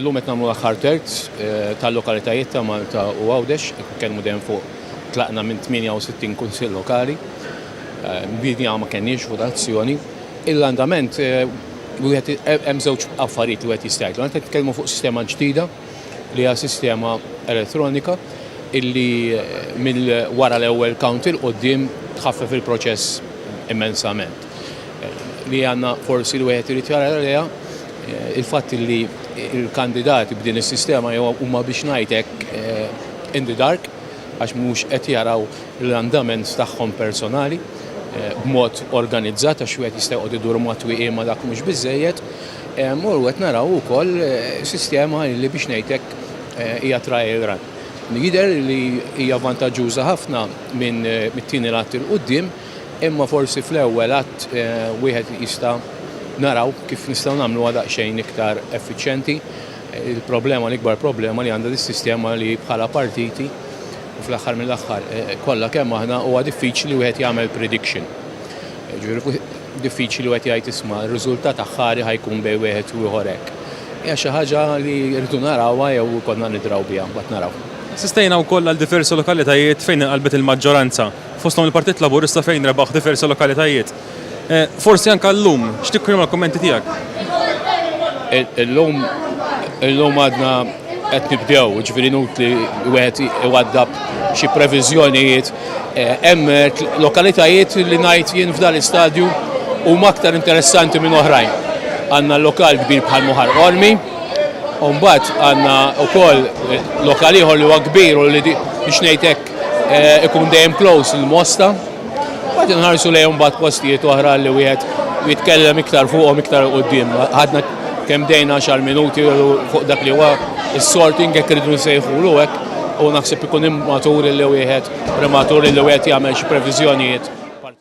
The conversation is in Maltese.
Illum qed nagħmlu l-aħħar terz eh, tal-lokalitajiet ta' Malta u Għawdex, kelmu dejjem fuq tlaqna minn 68 kunsill lokali. Eh, Bidni ma kenniex votazzjoni. Il-andament eh, wieħed hemm żewġ affarijiet li wieħed jista' jgħidlu. Qed nitkellmu fuq sistema ġdida li hija sistema elettronika illi mill wara l-ewwel count il qudiem tħaffef il-proċess immensament. li għandna forsi li wieħed irid jara għaliha il-fatt li l-kandidati b'din is-sistema jew huma biex ngħid hekk eh, in the dark għax mhux qed jaraw l-andament tagħhom personali eh, b'mod organizzat għax wieħed jista' jqgħod idur matwieqi ma dak mhux biżejjed. Eh, Mur qed naraw ukoll sistema li biex ngħid hekk hija trial run. Jider li hija vantaġġuża ħafna minn mit-tieni lat il-qudiem Imma forsi fl-ewwel għadd wieħed jista' naraw kif nistgħu nagħmluha daqsxejn iktar effiċjenti. Il-problema, l-ikbar problema li għandha dis-sistema li bħala partiti u fl-aħħar mill-aħħar kollha kemm aħna huwa diffiċli wieħed jagħmel prediction. Ġifieri diffiċli wieħed jgħid isma' r-riżultat aħħari ħa jkun bejn wieħed u ieħor hekk. Hija xi ħaġa li rridu narawha jew ikollna nidraw biha mbagħad naraw. Assistejna wkoll għal diversi lokalitajiet fejn inqalbet il-maġġoranza. fosthom il-Partit Laburista fejn rebaħ diversi lokalitajiet. Forsi anke llum, x'tikri huma l-kummenti tiegħek? Illum illum għadna qed nibdew, ġifieri nutli wieħed iwaddab xi previżjonijiet. Eh, hemm eh, lokalitajiet li ngħid jien f'dan l-istadju huma aktar interessanti minn oħrajn. Għandna lokal kbir bħal Muħar Ormi, u mbagħad għandna wkoll eh, lokal ieħor li huwa kbir u li biex ngħidlek Eh, ikun dejjem close il-mosta. Għad nħarsu lejhom bat postijiet oħra li wieħed jitkellem iktar fuqhom iktar qudiem. Għadna kemm dejna xar minuti fuq dak li huwa s-sorting jekk irridu nsejħulu hekk u naħseb ikun immatur li wieħed prematur li wieħed jagħmel xi previżjonijiet